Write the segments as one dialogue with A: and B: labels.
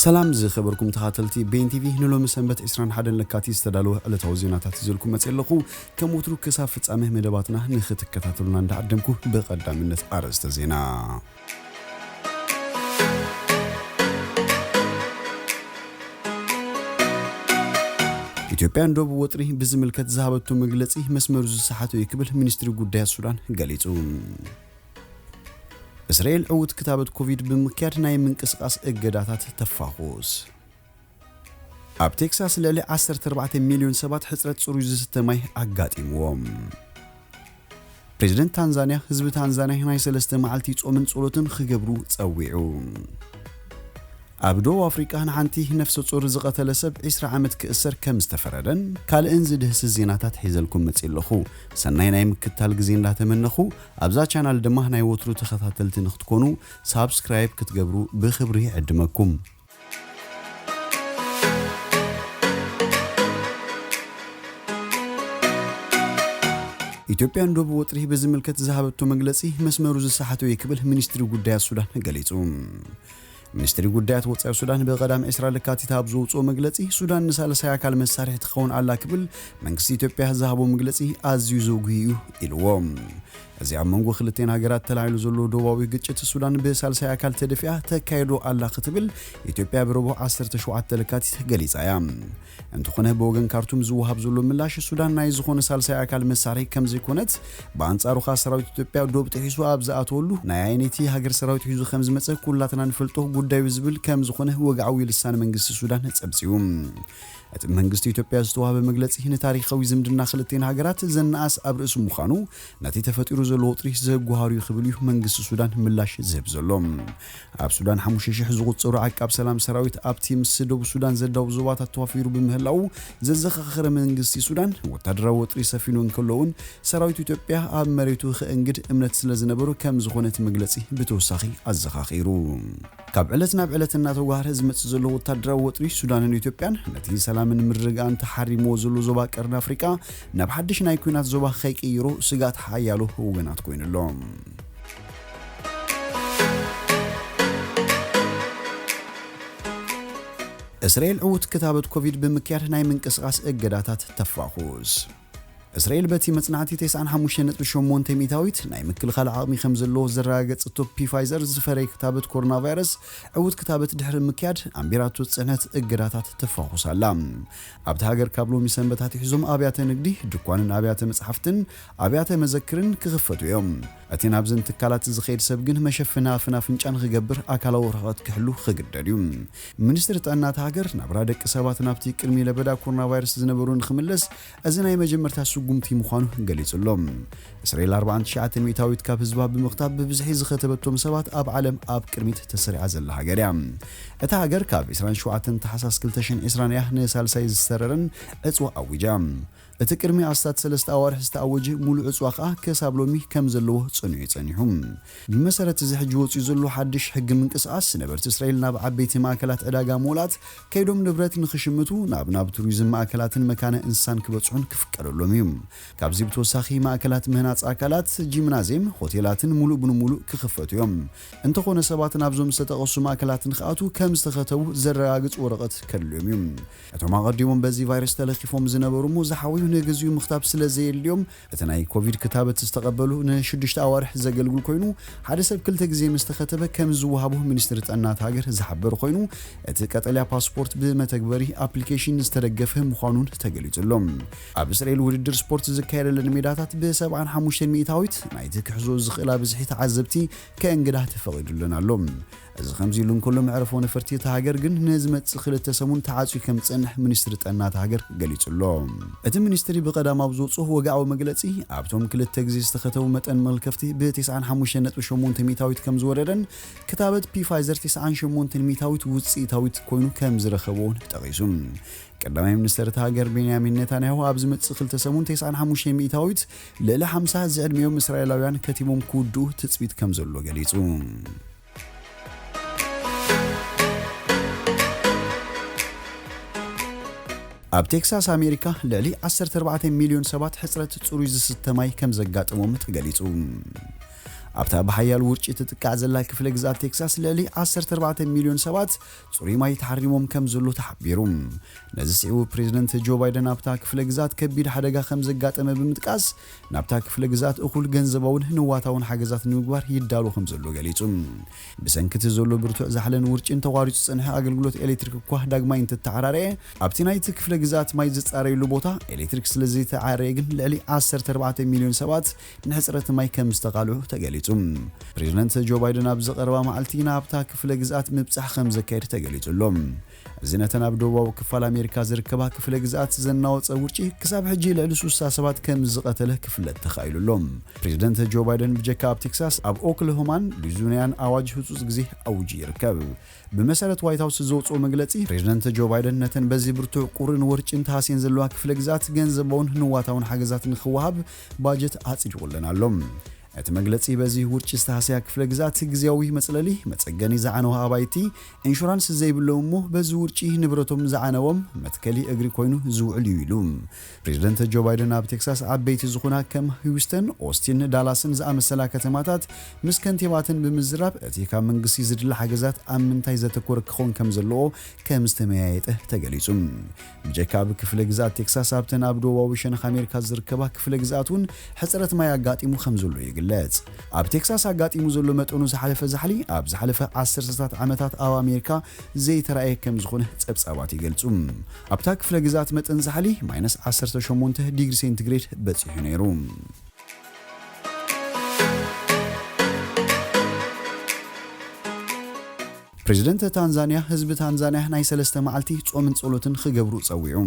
A: ሰላም ዝከበርኩም ተካተልቲ ቤን ቲቪ ንሎሚ ሰንበት ዕስራን ሓደን ለካቲት ዝተዳለወ ዕለታዊ ዜናታት ይዘልኩም መጽየ ኣለኹ ከም ወትሩ ክሳብ ፍጻሜ መደባትና ንክትከታተሉና እንዳዓደምኩ ብቀዳምነት ኣርእስተ ዜና ኢትዮጵያ ንዶብ ወጥሪ ብዝምልከት ዝሃበቶ መግለጺ መስመሩ ዝሰሓተ'ዩ ክብል ሚኒስትሪ ጉዳያት ሱዳን ገሊጹ። እስራኤል ዕዉት ክታበት ኮቪድ ብምክያድ ናይ ምንቅስቓስ እገዳታት ተፋዅስ። ኣብ ቴክሳስ ልዕሊ ዓሰርተ ኣርባዕተ ሚልዮን ሰባት ሕጽረት ጽሩይ ዝስተ ማይ ኣጋጢምዎም። ፕሬዝደንት ታንዛንያ ህዝቢ ታንዛንያ ናይ ሰለስተ መዓልቲ ጾምን ጸሎትን ክገብሩ ጸዊዑ። ኣብ ደቡብ ኣፍሪቃ ንሓንቲ ነፍሰ ጾር ዝቐተለ ሰብ 20 ዓመት ክእሰር ከም ዝተፈረደን ካልእን ዝድህስስ ዜናታት ሒዘልኩም መጺእ ኣለኹ። ሰናይ ናይ ምክትታል ግዜ እንዳተመነኹ ኣብዛ ቻናል ድማ ናይ ወትሩ ተኸታተልቲ ንክትኮኑ ሳብስክራይብ ክትገብሩ ብክብሪ ይዕድመኩም። ኢትዮጵያ ንዶብ ወጥሪ ብዝምልከት ዝሃበቶ መግለጺ መስመሩ ዝሰሓተ'ዩ ክብል ሚኒስትሪ ጉዳያት ሱዳን ገሊጹ። ሚኒስትሪ ጉዳያት ወጻኢ ሱዳን ብቀዳም ዕስራ ለካቲት ኣብ ዘውጽኦ መግለጺ ሱዳን ንሳልሳይ ኣካል መሳርሒ ትኸውን ኣላ ክብል መንግስቲ ኢትዮጵያ ዝሃቦ መግለጺ ኣዝዩ ዘጉሂ እዩ ኢልዎ። እዚ ኣብ መንጎ ክልቴን ሃገራት ተላዒሉ ዘሎ ዶባዊ ግጭት ሱዳን ብሳልሳይ ኣካል ተደፊኣ ተካይዶ ኣላ ክትብል ኢትዮጵያ ብረቡዕ ዓሰርተ ሸውዓተ ለካቲት ገሊጻ እያ። እንተኾነ ብወገን ካርቱም ዝወሃብ ዘሎ ምላሽ ሱዳን ናይ ዝኾነ ሳልሳይ ኣካል መሳርሒ ከምዘይኮነት ብኣንጻሩ ከኣ ሰራዊት ኢትዮጵያ ዶብ ጥሒሱ ኣብ ዝኣተወሉ ናይ ኣየነይቲ ሃገር ሰራዊት ሒዙ ከምዝመጸ ኩላትና ንፈልጦ ጉዳዩ ዝብል ከምዝኾነ ወግዓዊ ልሳን መንግስቲ ሱዳን ጸብጺቡ። እቲ መንግስቲ ኢትዮጵያ ዝተዋህበ መግለጺ ንታሪኻዊ ዝምድና ክልቲኤን ሃገራት ዘናኣእስ ኣብ ርእሲ ምዃኑ ነቲ ተፈጢሩ ዘሎ ወጥሪ ዘጓሃርዩ ክብል እዩ መንግስቲ ሱዳን ምላሽ ዝህብ ዘሎ። ኣብ ሱዳን ሓሙሽተ ሽሕ ዝቑጸሩ ዓቃብ ሰላም ሰራዊት ኣብቲ ምስ ደቡብ ሱዳን ዘዳውብ ዞባታት ተዋፊሩ ብምህላዉ ዘዘኻኸረ መንግስቲ ሱዳን፣ ወታደራዊ ወጥሪ ሰፊኑ እንከሎ'ውን ሰራዊት ኢትዮጵያ ኣብ መሬቱ ከእንግድ እምነት ስለዝነበሮ ከምዝኾነ እቲ መግለጺ ብተወሳኺ ኣዘኻኺሩ። ካብ ዕለት ናብ ዕለት እናተጓህረ ዝመጽእ ዘሎ ወታደራዊ ወጥሪ ሱዳንን ኢትዮጵያን፣ ነቲ ሰላምን ምርግጋእን ተሓሪምዎ ዘሎ ዞባ ቀርኒ ኣፍሪቃ ናብ ሓድሽ ናይ ኲናት ዞባ ከይቅይሮ ስግኣት ሓያሎ ወገናት ኮይኑ'ሎ። እስራኤል ዕዉት ክታበት ኮቪድ ብምክያድ ናይ ምንቅስቓስ እገዳታት ተፋዅስ። እስራኤል በቲ መጽናዕቲ 95.8 ሚእታዊት ናይ ምክልኻል ዓቕሚ ከም ዘለዎ ዘረጋገጸቶ ፒፋይዘር ዝፈረየ ክታበት ኮሮናቫይረስ ዕዉት ክታበት ድሕሪ ምክያድ ኣንቢራቶ ጽዕነት እገዳታት ተፋዅስ ኣላ። ኣብታ ሃገር ካብ ሎሚ ሰንበት ኣትሒዞም ኣብያተ ንግዲ፣ ድኳንን ኣብያተ መጽሓፍትን ኣብያተ መዘክርን ክኽፈቱ እዮም። እቲ ናብዘን ትካላት ዝኸይድ ሰብ ግን መሸፈኒ ኣፍን ኣፍንጫን ክገብር ኣካላዊ ርሕቐት ክሕሉ ክግደድ እዩ። ሚኒስትሪ ጥዕና እታ ሃገር፣ ናብራ ደቂ ሰባት ናብቲ ቅድሚ ለበዳ ኮሮናቫይረስ ዝነበሮ ንክምለስ እዚ ናይ መጀመርታ ስጉምቲ ምዃኑ ገሊጹ ኣሎ። እስራኤል ኣርብዓን ትሽዓተ ሚእታዊት ካብ ህዝባ ብምኽታብ ብብዝሒ ዝኸተበቶም ሰባት ኣብ ዓለም ኣብ ቅድሚት ተሰሪዓ ዘላ ሃገር እያ። እታ ሃገር ካብ ዕስራን ሸውዓተን ታሕሳስ ክልተ ሽሕን ዕስራን እያ ንሳልሳይ ዝተረረን ዕጽዋ ኣዊጃ። እቲ ቅድሚ ኣስታት ሰለስተ ኣዋርሕ ዝተኣወጀ ሙሉእ ዕፅዋ ከኣ ከሳብ ሎሚ ከም ዘለዎ ፀኒዑ እዩ ፀኒሑ። ብመሰረት እዚ ሕጂ ወፂኡ ዘሎ ሓድሽ ሕጊ ምንቅስቓስ ነበርቲ እስራኤል ናብ ዓበይቲ ማእከላት ዕዳጋ ሞላት ከይዶም ንብረት ንኽሽምቱ ናብ ናብ ቱሪዝም ማእከላትን መካነ እንስሳን ክበፅሑን ክፍቀደሎም እዩ። ካብዚ ብተወሳኺ ማእከላት ምህናፅ ኣካላት፣ ጂምናዜም፣ ሆቴላትን ሙሉእ ብንሙሉእ ክኽፈቱ እዮም። እንተኾነ ሰባት ናብዞም ዝተጠቐሱ ማእከላት ንኽኣትዉ ከም ዝተኸተቡ ዘረጋግፅ ወረቐት ከድልዮም እዩ። እቶም ኣቐዲሞም በዚ ቫይረስ ተለኺፎም ዝነበሩ እሞ ዝሓወዩ ንግዚኡ ምኽታብ ስለ ዘየድልዮም እቲ ናይ ኮቪድ ክታበት ዝተቐበሉ ንሽዱሽተ ኣዋርሕ ዘገልግል ኮይኑ ሓደ ሰብ ክልተ ግዜ ምስ ተኸተበ ከም ዝወሃቦ ሚኒስትሪ ጥዕና እታ ሃገር ዝሓበረ ኮይኑ እቲ ቀጠልያ ፓስፖርት ብመተግበሪ፣ ኣፕሊኬሽን፣ ዝተደገፈ ምዃኑን ተገሊጹ ኣሎ። ኣብ እስራኤል ውድድር ስፖርት ዝካየደለን ሜዳታት ብ ሰብዓን ሓሙሽተን ሚእታዊት ናይቲ ክሕዝኦ ዝኽእላ ብዝሒ ተዓዘብቲ ከእንግዳ ተፈቒዱለን ኣሎ። እዚ ከምዚ'ሉ እንከሎ መዕርፎ ነፈርቲ እታ ሃገር ግን ንዝመጽእ ክልተ ሰሙን ተዓጽዩ ከምዝጸንሕ ሚኒስትሪ ጥዕና እታ ሃገር ገሊጹ'ሎ። እቲ ሚኒስትሪ ብቀዳም ኣብ ዘውጽኦ ወግዓዊ መግለጺ፣ ኣብቶም ክልተ ግዜ ዝተኸተቡ መጠን መልከፍቲ ብ ቴስዓን ሓሙሽተን ነጥቢ ሸሞንተ ሚእታዊት ከምዝወረደን ክታበት ፒፋይዘር ቴስዓን ሸሞንተን ሚእታዊት ውጽኢታዊት ኮይኑ ከምዝረኸብዎን ጠቒሱ። ቀዳማይ ሚኒስተር እታ ሃገር ቤንያሚን ኔታንያሁ ኣብ ዝመጽእ ክልተ ሰሙን ቴስዓን ሓሙሽተን ሚእታዊት ልዕሊ ሓምሳ ዝዕድሚኦም እስራኤላውያን ከቲሞም ክውድኡ ትጽቢት ከም ዘሎ ገሊጹ። ኣብ ቴክሳስ ኣሜሪካ ልዕሊ 14 ሚልዮን ሰባት ሕፅረት ፅሩይ ዝስተ ማይ ከም ዘጋጠሞም ተገሊጹ። ኣብታ ብሓያል ውርጪ ትጥቃዕ ዘላ ክፍለ ግዝኣት ቴክሳስ ልዕሊ 14 ሚልዮን ሰባት ጽሩይ ማይ ተሓሪሞም ከምዘሎ ተሓቢሩ። ነዚ ስዒቡ ፕሬዝደንት ጆ ባይደን ኣብታ ክፍለ ግዝኣት ከቢድ ሓደጋ ከምዘጋጠመ ብምጥቃስ ናብታ ክፍለ ግዝኣት እኹል ገንዘባውን ንዋታውን ሓገዛት ንምግባር ይዳሎ ከምዘሎ ገሊጹ። ብሰንኪ እቲ ዘሎ ብርቱዕ ዛሕልን ውርጪን ተቋሪጹ ዝጸንሐ ኣገልግሎት ኤሌክትሪክ እኳ ዳግማይ እንትተዓራረየ ኣብቲ ናይቲ ክፍለ ግዝኣት ማይ ዝጻረየሉ ቦታ ኤሌክትሪክ ስለዘይተዓረየ ግን ልዕሊ ዓሰርተ ኣርባዕተ ሚልዮን ሰባት ንሕፅረት ማይ ከም ዝተቓልዑ ተገሊፁ። ፕሬዝደንት ጆ ባይደን ኣብዚ ቀረባ መዓልቲ ናብታ ክፍለ ግዝኣት ምብፃሕ ከም ዘካይድ ተገሊፁ ኣሎ። እዚ ነተን ኣብ ደቡባዊ ክፋል ኣሜሪካ ዝርከባ ክፍለ ግዝኣት ዘናወፀ ውርጪ ክሳብ ሕጂ ልዕሊ ስሳ ሰባት ከም ዝቐተለ ክፍለጥ ተኻኢሉ ኣሎ። ፕሬዝደንት ጆ ባይደን ብጀካ ኣብ ቴክሳስ ኣብ ኦክለሆማን ሉዙኒያን ኣዋጅ ህፁፅ ግዜ ኣዊጁ ይርከብ። ብመሰረት ዋይት ሃውስ ዘውጽኦ መግለጺ፣ ፕሬዝደንት ጆ ባይደን ነተን በዚ ብርቱዕ ቁርን ወርጪን ተሃስየን ዘለዋ ክፍለ ግዝኣት ገንዘባውን ንዋታውን ሓገዛት ንኽወሃብ ባጀት ኣጽዲቑ ኣለን ኣሎ። እቲ መግለጺ በዚ ውርጪ ዝተሃሰያ ክፍለ ግዝኣት ግዝያዊ መጽለሊ፣ መጸገኒ ዝዓነዋ ኣባይቲ፣ ኢንሹራንስ ዘይብሎም እሞ በዚ ውርጪ ንብረቶም ዝዓነዎም መትከሊ እግሪ ኮይኑ ዝውዕል እዩ ኢሉ። ፕሬዝደንት ጆ ባይደን ኣብ ቴክሳስ ዓበይቲ ዝኹና ከም ህዩስተን፣ ኦስቲን፣ ዳላስን ዝኣመሰላ ከተማታት ምስ ከንቲባተን ብምዝራብ እቲ ካብ መንግስቲ ዝድለ ሓገዛት ኣብ ምንታይ ዘተኮረ ክኾን ከም ዘለዎ ከም ዝተመያየጠ ተገሊጹ። ብጀካ ኣብ ክፍለ ግዝኣት ቴክሳስ ኣብተን ኣብ ደቡባዊ ሸነኽ ኣሜሪካ ዝርከባ ክፍለ ግዝኣት እውን ሕጽረት ማይ ኣጋጢሙ ከም ዘሎ ይግለጽ። ኣብ ቴክሳስ ኣጋጢሙ ዘሎ መጠኑ ዝሓለፈ ዛሕሊ ኣብ ዝሓለፈ ዓሰርተታት ዓመታት ኣብ ኣሜሪካ ዘይተራእየ ከም ዝኾነ ጸብጻባት ይገልጹ። ኣብታ ክፍለ ግዝኣት መጠን ዛሕሊ ማይነስ ዓሰርተ ሸሞንተ ዲግሪ ሴንቲግሬድ በጺሑ ነይሩ። ፕረዚደንት ታንዛንያ ህዝቢ ታንዛንያ ናይ ሰለስተ መዓልቲ ጾምን ጸሎትን ክገብሩ ጸዊዑ።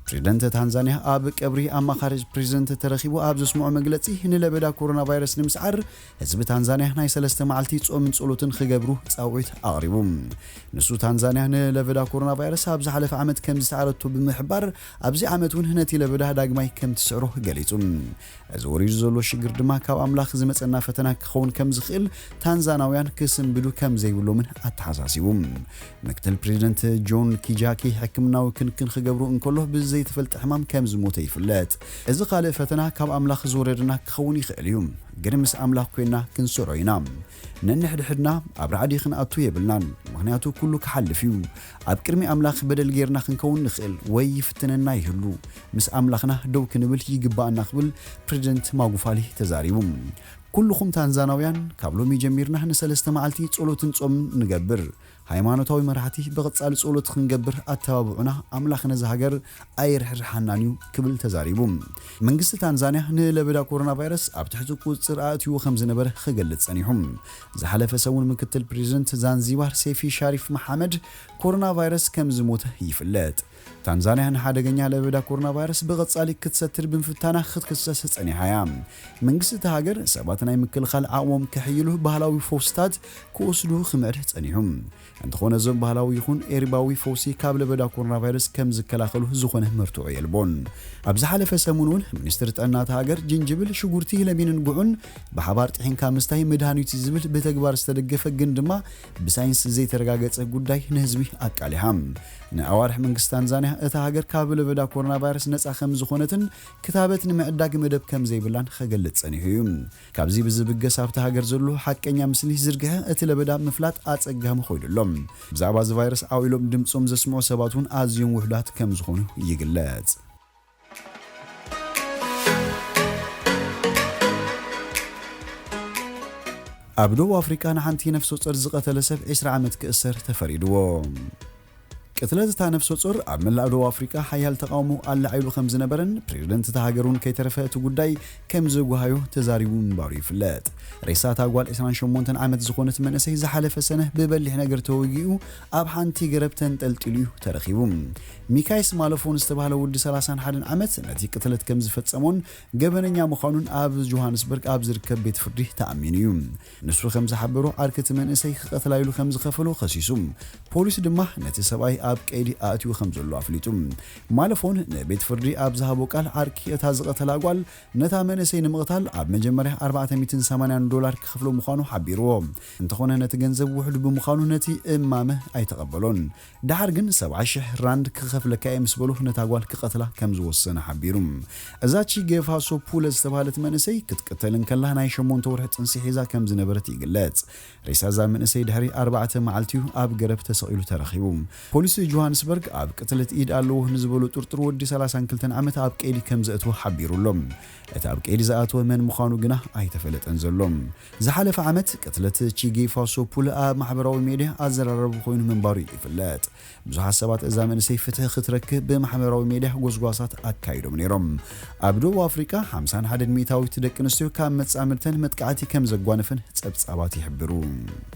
A: ፕረዚደንት ታንዛንያ ኣብ ቀብሪ ኣማኻሪ ፕረዚደንት ተረኺቡ ኣብ ዘስምዖ መግለጺ ንለበዳ ኮሮናቫይረስ ንምስዓር ህዝቢ ታንዛንያ ናይ ሰለስተ መዓልቲ ጾምን ጸሎትን ኽገብሩ ጻውዒት ኣቕሪቡ። ንሱ ታንዛንያ ንለበዳ ኮሮናቫይረስ ኣብ ዝሓለፈ ዓመት ከም ዝሰዓረቶ ብምሕባር ኣብዚ ዓመት እውን ነቲ ለበዳ ዳግማይ ከም ትስዕሮ ገሊጹ። እዚ ወሪዱ ዘሎ ሽግር ድማ ካብ ኣምላኽ ዝመጸና ፈተና ክኸውን ከም ዝኽእል ታንዛናውያን ክስንብዱ ከም ዘይብሎምን ኣተሓሳሲቡ። ምክትል ፕሬዚደንት ጆን ኪጃኪ ሕክምናዊ ክንክን ኽገብሩ እንከሎ ብዘይተፈልጠ ሕማም ከም ዝሞተ ይፍለጥ። እዚ ኻልእ ፈተና ካብ ኣምላኽ ዝወረደና ክኸውን ይኽእል እዩ። ግን ምስ ኣምላኽ ኮይና ክንሰሮ ኢና ነንሕድሕድና ኣብ ራዕዲ ክንኣቱ የብልናን ምኽንያቱ ኩሉ ክሓልፍ እዩ ኣብ ቅድሚ ኣምላኽ በደል ጌርና ክንከውን ንኽእል ወይ ይፍትነና ይህሉ ምስ ኣምላኽና ደው ክንብል ይግባኣና ክብል ፕረዚደንት ማጉፋሊ ተዛሪቡ ኩሉኹም ታንዛናውያን ካብ ሎሚ ጀሚርና ንሰለስተ መዓልቲ ጸሎትን ጾምን ንገብር ሃይማኖታዊ መራሕቲ ብቐጻሊ ጸሎት ክንገብር ኣተባብዑና ኣምላኽ ነዛ ሃገር ኣይርሕርሓናን እዩ ክብል ተዛሪቡ። መንግስቲ ታንዛንያ ንለበዳ ኮሮናቫይረስ ኣብ ትሕቲ ቁጽጽር ኣእትይዎ ከምዝነበረ ክገልጽ ጸኒሑ። ዝሓለፈ ሰሙን ምክትል ፕረዚደንት ዛንዚባር ሴፊ ሻሪፍ መሓመድ ኮሮናቫይረስ ከምዝሞተ ይፍለጥ። ታንዛንያ ንሓደገኛ ለበዳ ኮሮናቫይረስ ብቐጻሊ ክትሰትር ብምፍታና ክትክሰስ ጸኒሓ እያ። መንግስቲ እታ ሃገር ሰባት ናይ ምክልኻል ዓቕሞም ከሕይሉ ባህላዊ ፈውስታት ክወስዱ ክመርህ ጸኒሑ። እንተኾነ እዞም ባህላዊ ይኹን ኤርባዊ ፈውሲ ካብ ለበዳ ኮሮናቫይረስ ከም ዝከላኸሉ ዝኾነ መርትዖ የልቦን። ኣብ ዝሓለፈ ሰሙን እውን ሚኒስትሪ ጥዕና እታ ሃገር ጅንጅብል፣ ሽጉርቲ፣ ለሚንን ጉዕን ብሓባር ጥሒንካ ምስታይ መድሃኒት'ዩ ዝብል ብተግባር ዝተደገፈ ግን ድማ ብሳይንስ ዘይተረጋገጸ ጉዳይ ንህዝቢ ኣቃሊሓ። ንኣዋርሕ መንግስቲ ታንዛንያ እታ ሃገር ካብ ለበዳ ኮሮናቫይረስ ነጻ ከምዝኾነትን ክታበት ንምዕዳግ መደብ ከምዘይብላን ኸገልጽ ጸኒሑ እዩ። ካብዚ ብዝብገስ ኣብታ ሃገር ዘሎ ሓቀኛ ምስሊ ዝርግሐ እቲ ለበዳ ምፍላጥ ኣጸጋሚ ኾይኑ ኣሎ። ብዛዕባ እዚ ቫይረስ ዓው ኢሎም ድምጾም ዘስምዑ ሰባት'ውን ኣዝዮም ውሑዳት ከምዝኾኑ ይግለጽ። ኣብ ደቡብ ኣፍሪቃ ንሓንቲ ነፍሰጾር ዝቐተለ ሰብ ዕስራ ዓመት ክእሰር ተፈሪድዎ። ቅትለት እታ ነፍሰጾር ኣብ መላእ ደቡብ ኣፍሪቃ ሓያል ተቓውሞ ኣላዒሉ ከም ዝነበረን ፕሬዝደንት እታ ሃገር እውን ከይተረፈ እቲ ጉዳይ ከም ዘጓሃዮ ተዛሪቡ ምንባሩ ይፍለጥ። ሬሳ እታ ጓል ዕስራን ሸሞንተን ዓመት ዝኾነት መንእሰይ ዝሓለፈ ሰነ ብበሊሕ ነገር ተወጊኡ ኣብ ሓንቲ ገረብ ተንጠልጢሉ እዩ ተረኺቡ። ሚካይስ ማለፎን ዝተባህለ ወዲ ሰላሳን ሓደን ዓመት ነቲ ቅትለት ከም ዝፈጸሞን ገበነኛ ምዃኑን ኣብ ጆሃንስበርግ ኣብ ዝርከብ ቤት ፍርዲ ተኣሚኑ እዩ። ንሱ ከም ዝሓበሮ ዓርኪ እቲ መንእሰይ ክቐትላ ኢሉ ከም ዝኸፈሎ ከሲሱ። ፖሊስ ድማ ነቲ ሰብኣይ ኣብ ቀይዲ ኣእትዩ ከም ዘሎ ኣፍሊጡ። ማለፎን ንቤት ፍርዲ ኣብ ዝሃቦ ቃል ዓርኪ እታ ዝቐተላ ጓል ነታ መንእሰይ ንምቕታል ኣብ መጀመርያ ኣርባዕተ ሚእትን ሰማንያን ዶላር ክኸፍሎ ምዃኑ ሓቢርዎ እንተኾነ ነቲ ገንዘብ ውሑድ ብምዃኑ ነቲ እማመ ኣይተቐበሎን። ደሓር ግን ሰብዓ ሽሕ ራንድ ክኸፍለካ እየ ምስ በሉ ነታ ጓል ክቐትላ ከም ዝወሰነ ሓቢሩ። እዛ ቺገ ፋሶ ፑለ ዝተብሃለት መንእሰይ ክትቅተል እንከላ ናይ ሸሞንተ ወርሒ ጥንሲ ሒዛ ከም ዝነበረት ይግለጽ። ሬሳ እዛ መንእሰይ ድሕሪ ኣርባዕተ መዓልቲ'ዩ ኣብ ገረብ ተሰቒሉ ተረኺቡ። ፖሊስ ጆሃንስበርግ ኣብ ቅትለት ኢድ ኣለዎ ንዝበሎ ጥርጡር ወዲ ሰላሳን ክልተን ዓመት ኣብ ቀይዲ ከም ዘእተወ ሓቢሩ'ሎ። እቲ ኣብ ቀይዲ ዝኣተወ መን ምዃኑ ግና ኣይተፈለጠን ዘሎ። ዝሓለፈ ዓመት ቅትለት ቺጊ ፋሶ ፑል ኣብ ማሕበራዊ ሜድያ ኣዘራራቢ ኮይኑ ምንባሩ እዩ ይፍለጥ። ብዙሓት ሰባት እዛ መንእሰይ ፍትሒ ክትረክብ ብማሕበራዊ ሜድያ ጎስጓሳት ኣካይዶም ነይሮም። ኣብ ደቡብ ኣፍሪቃ ሓምሳን ሓደን ሚእታዊት ደቂ ኣንስትዮ ካብ መጻምድተን መጥቃዕቲ ከምዘጓነፈን ጸብጻባት ይሕብሩ።